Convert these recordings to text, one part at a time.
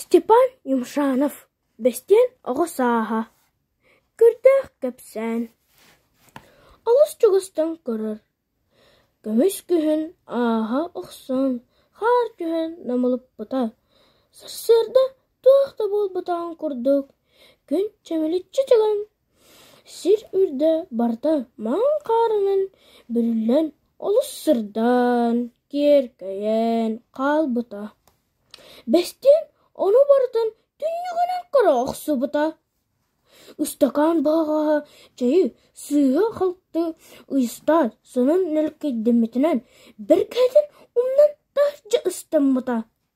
Степан Юмшанов бэстиэн оҕо сааһа, көрдөөх кэпсээн, олус чугастан көрөр, көмүс күһүн ааһа охсон хаар түһэн намылыппыта, сарсыарда туох да буолбатаҕын курдук күн чэмиличчи чаҕын Сир үрдэ барыта маҥан хаарынан бүрүллэн олус сырдаан, киэркэйэн хаалбыта. Бэстиэн ону барытын түннүгүнэн көрө охсубута. Ыстакаан баҕаҕаһа чэйи сыыһа-халты ыйыстаат, сонун нэлкэйдэммитинэн бэргэһэтин умнан таһырдьа ыстаммыта.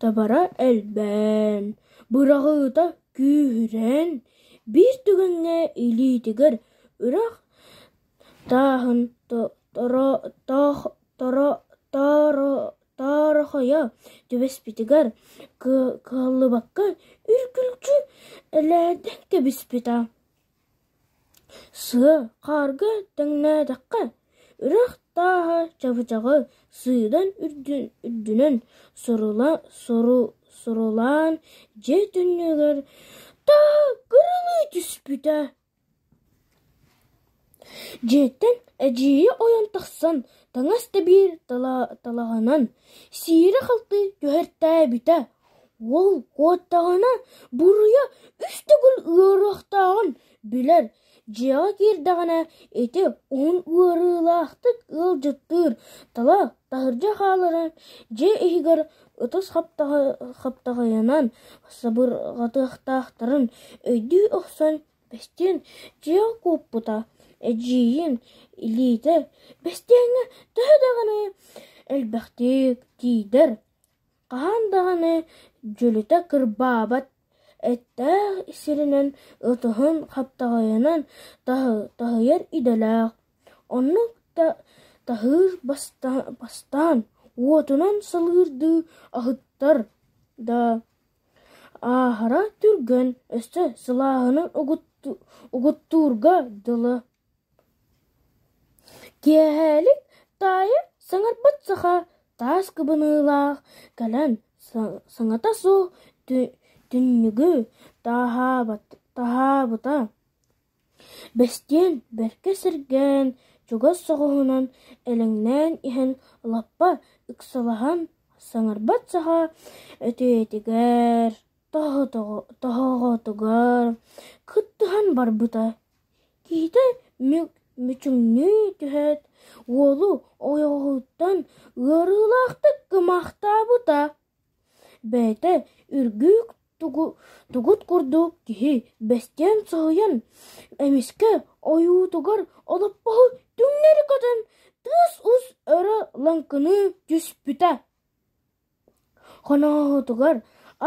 Табара элбээн, быраҕыыта күүһүрэн, биир түгэҥҥэ илиитигэр үрэх тааһын таарыхайа түбэспитигэр кыаллыбакка үргүлдьү элээннэн кэбиспитэ Сыа хаарга тэҥнээтэххэ, үрэх тааһа чабычаҕы сыыдан үрдүнэн сурулаан дьиэ түннүгүгэр тагырылыы түспүтэ Дьиэттэн эдьиийэ ойон тахсан таҥас тэбиир талаҕынан сиирэ-халты түһэртээбитэ Ол куоттаҕына буруйа үс төгүл ыарыахтааҕын билэр, дьиэҕэ киирдэҕинэ ити уһун ыарыылаахтык ыалдьыттыыр, тыла таһырдьа хааларын дьиэ иһигэр ытыс хаптаҕайынан сабырҕатыахтаахтарын өйдүү охсон, бэстиэн дьиэҕэ куоппута, эдьиийин, илиитэ бэстиэҥҥэ төһө даҕаны элбэхтик тиийдэр Хаһан даҕаны дьөлүтэ кырбаабат эттээх сиринэн ытыһын хаптаҕайынан таһыйар идэлээх, оннук да таһыыр бастаан уотунан салгыырдыы аһыттар да, ааһара түргэн, өссө сылааһынан угуттуурга дылы. Киэһээлик таайа саҥарбыт саха таас кыбыныылаах кэлэн саҥата суох түннүгү таһаабыта, бэстиэн бэркэ сэргээн, чугас соҕуһунан элэҥнээн иһэн лаппа ыксалаһан саҥарбат саха өтүйэтигэр, тоһоҕотугар кыттыһан барбыта Киһитэ мүчүҥнүү түһээт, уолу ойоҕоһуттан ыарыылаахтык кымаахтаабыта, бэйэтэ үргүүк тугут курдук киһи бэстиэн соһуйан, эмискэ ойуутугар олоппоһу түҥнэри көтөн, тыас-ус өрө лаҥкыныы түспүтэ. Хонооһутугар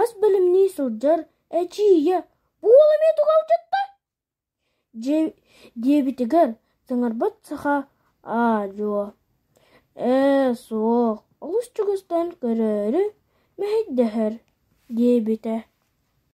ас бэлэмнии сылдьар эдьиийэ: «Буола эмиэ тугалдьытта?» диэбитигэр саҥарбат саха аа-дьуо «ээ суох, олус чугастан көрөөрү мэһэйдэһэр» диэбитэ